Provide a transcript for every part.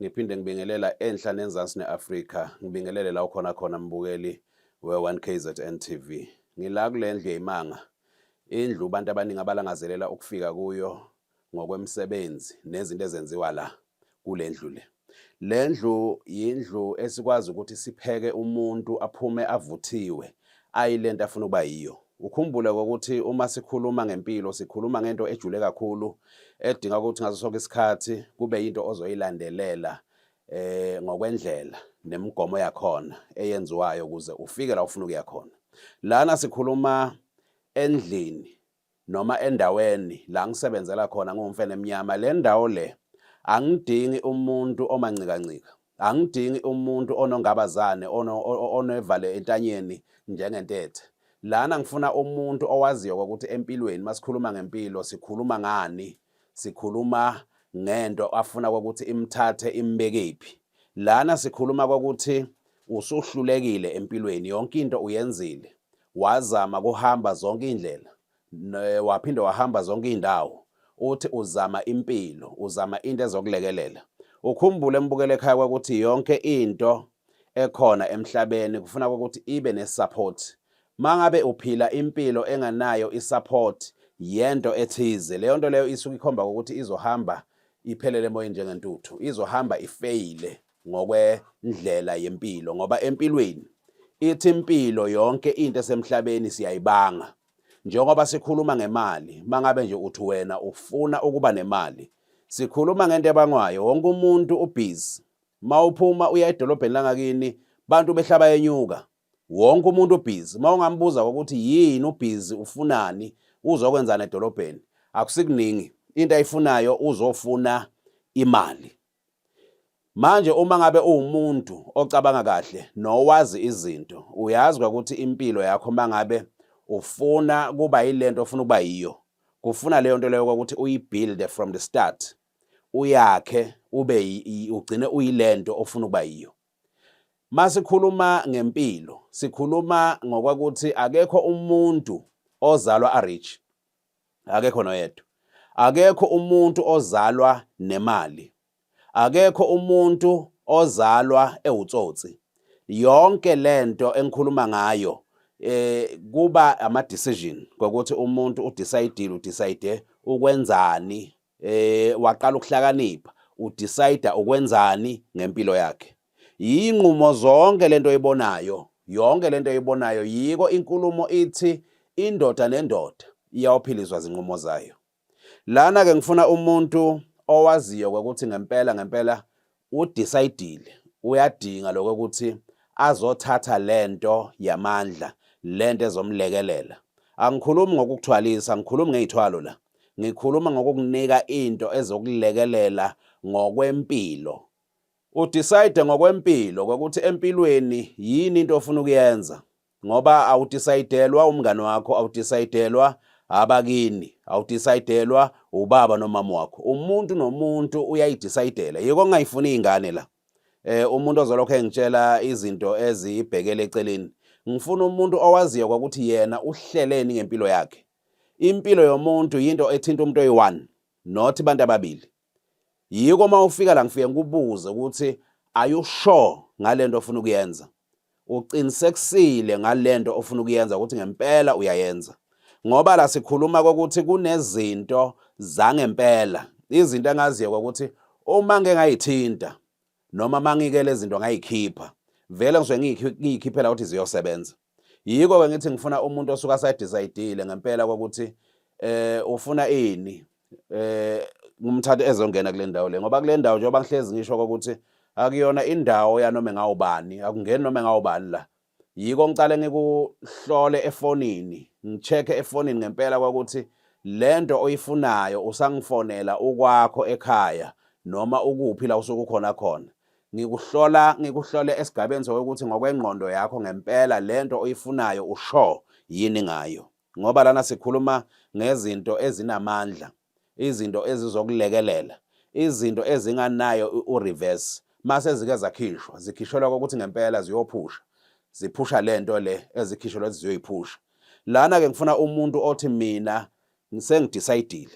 Ngiphinde ngibingelela enhla nenzansi ne-Afrika. Ngibingelele la ukhona khona mbukeli we-1 KZN TV. Ngila kule ndlu yeyimanga. Indlu abantu abaningi abalangazelela ukufika kuyo ngokwemisebenzi nezinto ezenziwa la kule ndlu le. Le ndlu yindlu esikwazi ukuthi sipheke umuntu aphume avuthiwe Ayi lento afuna ukuba yiyo. Ukhumbule ukuthi uma sikhuluma ngempilo sikhuluma ngento ejule kakhulu edinga ukuthi ngaso sonke isikhathi kube yinto ozoyilandelela eh ngokwendlela nemigomo yakhona eyenziwayo ukuze ufike la ufuna ukuya khona. Lana sikhuluma endlini noma endaweni la ngisebenzela khona ngumfene emnyama le ndawo le angidingi umuntu omancikancika angidingi umuntu onongabazane onevale entanyeni njengentethe lana ngifuna umuntu owaziyo ukuthi empilweni masikhuluma ngempilo sikhuluma ngani sikhuluma ngento afuna ukuthi imthathe imbekephi lana sikhuluma ukuthi usuhlulekile empilweni yonke into uyenzile Wazama kuhamba zonke indlela waphinde wahamba zonke indawo uthi uzama impilo uzama into ezokulekelela ukhumbule embukele ekhaya kwakuthi yonke into ekhona emhlabeni kufuna ukuthi ibe nesupport mangabe uphila impilo enganayo isupport yento ethize leyo nto leyo isuke ikhomba ukuthi izohamba iphelele emoyeni njengentuthu izohamba ifeyile ngokwendlela yempilo ngoba empilweni ithi impilo yonke into esemhlabeni siyayibanga njengoba sikhuluma ngemali mangabe nje uthi wena ufuna ukuba nemali sikhuluma ngento ebangwayo wonke umuntu ubhizi mawuphuma uya edolobheni langakini bantu behlaba yenyuka wonke umuntu ubhizi mawungambuza ukuthi yini ubhizi ufunani uzokwenzana edolobheni akusikuningi into ayifunayo uzofuna imali Manje uma ngabe uwumuntu ocabanga kahle nowazi izinto, uyazi kwakuthi impilo yakho mangabe ufuna kuba yilento ofuna ukuba yiyo, kufuna leyo nto leyo kwakuthi uyibuild from the start. Uyakhe ube ugcine uyilento ofuna ukuba yiyo. Masikhuluma ngempilo, sikhuluma ngokwakuthi akekho umuntu ozalwa arich. akekho noyedwa akekho umuntu ozalwa nemali akekho umuntu ozalwa ewutsotsi yonke lento engikhuluma ngayo eh kuba ama decision ngokuthi umuntu u decide u decide ukwenzani eh waqala ukuhlakanipha udecide ukwenzani ngempilo yakhe yinqumo zonke lento oyibonayo yonke lento oyibonayo yiko inkulumo ithi indoda nendoda iyawuphilizwa zinqumo zayo lana ke ngifuna umuntu owaziyo ukuthi ngempela ngempela udecide uyadinga lokho ukuthi azothatha lento yamandla lento ezomlekelela angikhulumi ngokukuthwalisa angikhulumi ngezithwalo la ngikhuluma ngokukunika into ezokulekelela ngokwempilo udecide ngokwempilo ukuthi empilweni yini into ofuna ukuyenza ngoba awudisayidelwa umngane wakho awudisayidelwa abakini awudisayidelwa ubaba nomama wakho umuntu nomuntu uyayidisayidela yiko ongayifuni ingane la eh umuntu ozolokho engitshela izinto ezibhekele eceleni ngifuna umuntu owaziyo kwakuthi yena uhleleni ngempilo yakhe impilo yomuntu yinto ethinta umuntu oyi-one not abantu ababili yiko uma ufika la ngifike ngikubuze ukuthi are you sure ngale nto ofuna ukuyenza uqinisekisile ngale nto ofuna ukuyenza ukuthi ngempela uyayenza ngoba la sikhuluma kokuthi kunezinto zangempela izinto engaziyo kokuthi uma ngeke ngayithinta noma mangike lezinto ngayikhipha vele ngisuke ngiyikhiphela ukuthi ziyosebenza yiko ke ngithi ngifuna umuntu osuka asadecide ngempela kokuthi eh ufuna ini eh ngumthathe ezongena kule ndawo le ngoba kule ndawo njengoba ngihlezi ngisho kokuthi akuyona indawo yanoma engawubani akungeni noma engawubani la yiko ngicale ngikuhlole efonini ngicheke efonini ngempela kwakuthi lento oyifunayo usangifonela ukwakho ekhaya noma ukuphi la usukukhona khona Ngikuhlola ngikuhlole esigabeni sokuthi ngokwengqondo yakho ngempela lento oyifunayo usho yini ngayo. Ngoba lana sikhuluma ngezinto ezinamandla, izinto ezizokulekelela, izinto ezinganayo ureverse mase zike zakhishwa, zikhishelwa kokuthi ngempela ziyophusha. Ziphusha lento le ezikhishelwa ukuthi ziyoyiphusha. Lana ke ngifuna umuntu othi mina sengidecide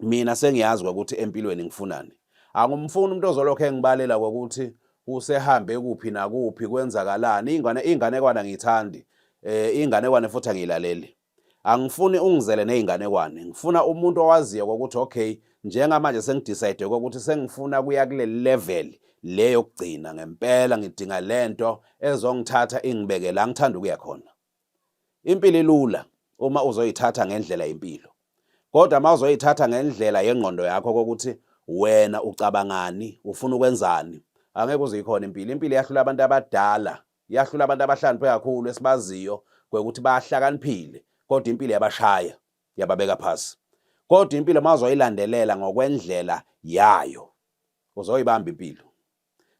mina sengiyazi kwakuthi empilweni ngifunani angumfuni umuntu ozolokhu engibalela kwakuthi usehambe kuphi nakuphi kwenzakalani ingane inganekwana ngithandi eh inganekwane futhi angilaleli angifuni ungizele nezinganekwane ngifuna umuntu owaziyo ukuthi okay njengamanje sengidecide ukuthi sengifuna kuya kule level le yokugcina ngempela ngidinga lento ezongithatha ingibeke la ngithanda ukuya khona Impilo ilula uma uzoyithatha ngendlela yempilo. Kodwa uma uzoyithatha ngendlela yengqondo yakho kokuthi wena ucabangani, ufuna ukwenzani, angeke uze ikhona impilo. Impilo iyahlula abantu abadala, iyahlula abantu abahlakaniphe kakhulu esibaziyo kwekuthi bahlakaniphile, kodwa impilo yabashaya, yababeka phansi. Kodwa impilo uma uzoyilandelela ngokwendlela yayo, uzoyibamba impilo.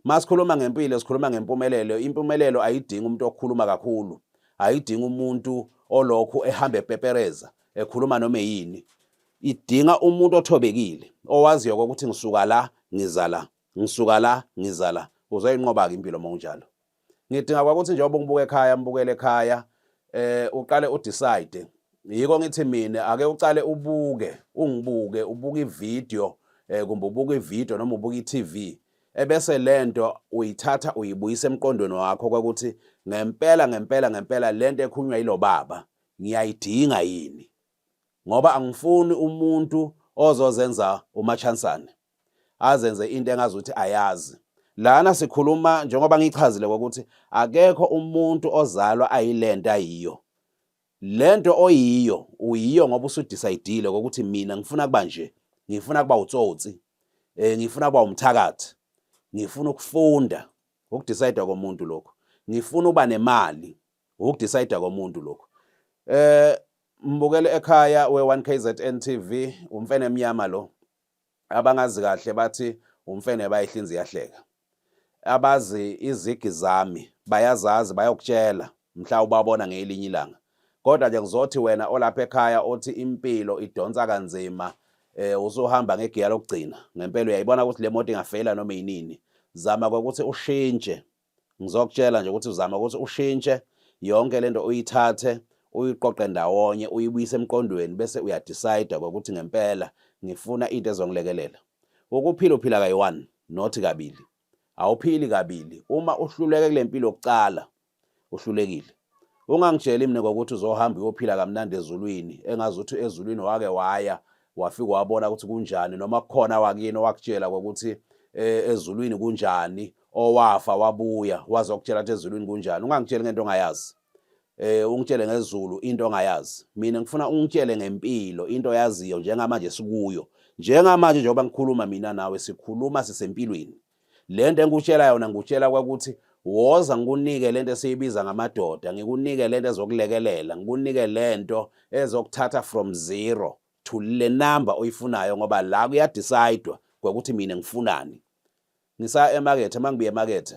Masikhuluma ngempilo sikhuluma ngempumelelo. Impumelelo ayidingi umuntu okhuluma kakhulu. Ayidingi umuntu olokhu ehamba epepereza ekhuluma noma yini. Idinga umuntu othobekile owaziyo ukuthi ngisuka la ngiza la ngisuka la ngiza la uzoyinqoba-ke impilo uma unjalo ngidinga kwakuthi njengoba ngibuka ekhaya mbukele ekhaya eh uqale udecide yiko ngithi mina ake uqale ubuke ungibuke ubuke ivideo eh kumbe ubuke ivideo noma ubuke iTV ebese lento uyithatha uyibuyisa emqondweni wakho kwakuthi ngempela ngempela ngempela lento ekhunywa yilobaba ngiyayidinga yini ngoba angifuni umuntu ozozenza umachansane azenze into engazuthi ayazi lana sikhuluma njengoba ngichazile ukuthi akekho umuntu ozalwa ayilento ayiyo lento oyiyo uyiyo ngoba usudecidile ukuthi mina ngifuna kuba nje ngifuna kuba utsotsi eh ngifuna kuba umthakathi ngifuna ukufunda ukudecide komuntu lokho ngifuna uba nemali ukudecide komuntu lokho eh mbukele ekhaya we1 KZN TV umfene emnyama lo abangazi kahle bathi umfene bayihlinzi yahleka abazi izigi zami bayazazi bayokutshela mhla ubabona ngelinye ilanga kodwa nje ngizothi wena olapha ekhaya othi impilo idonsa kanzima eh usuhamba ngegiya lokugcina ngempela uyayibona ukuthi le moto ingafela noma yinini zama ukuthi ushintshe ngizokutshela nje ukuthi uzama ukuthi ushintshe yonke lento uyithathe uyiqoqe ndawonye uyibuyise emqondweni bese uyadecide ukuthi ngempela ngifuna into ezongilekelela ukuphila uphila kayi-one not kabili awuphili kabili uma uhluleke kule mpilo yokucala uhlulekile Ungangitsheli mina ngokuthi uzohamba uyophila kamnandi ezulwini engazi ukuthi ezulwini wake waya wafika wabona ukuthi kunjani noma kukhona wakini owakutshela ngokuthi eh, ezulwini kunjani owafa wabuya wazokutshela ukuthi ezulwini kunjani ungangitsheli ngento ongayazi eh ungitshele ngezulu into ongayazi mina ngifuna ungitshele ngempilo into yaziyo njengamanje sikuyo njengamanje njengoba ngikhuluma mina nawe sikhuluma sisempilweni le nto engikutshela yona ngikutshela kwakuthi woza ngikunike le nto esiyibiza ngamadoda ngikunike le nto ezokulekelela ngikunike le nto ezokuthatha from zero to le number oyifunayo ngoba la kuyadisaydwa ngokuthi mina ngifunani ngisa emakethe uma ngibuye emakethe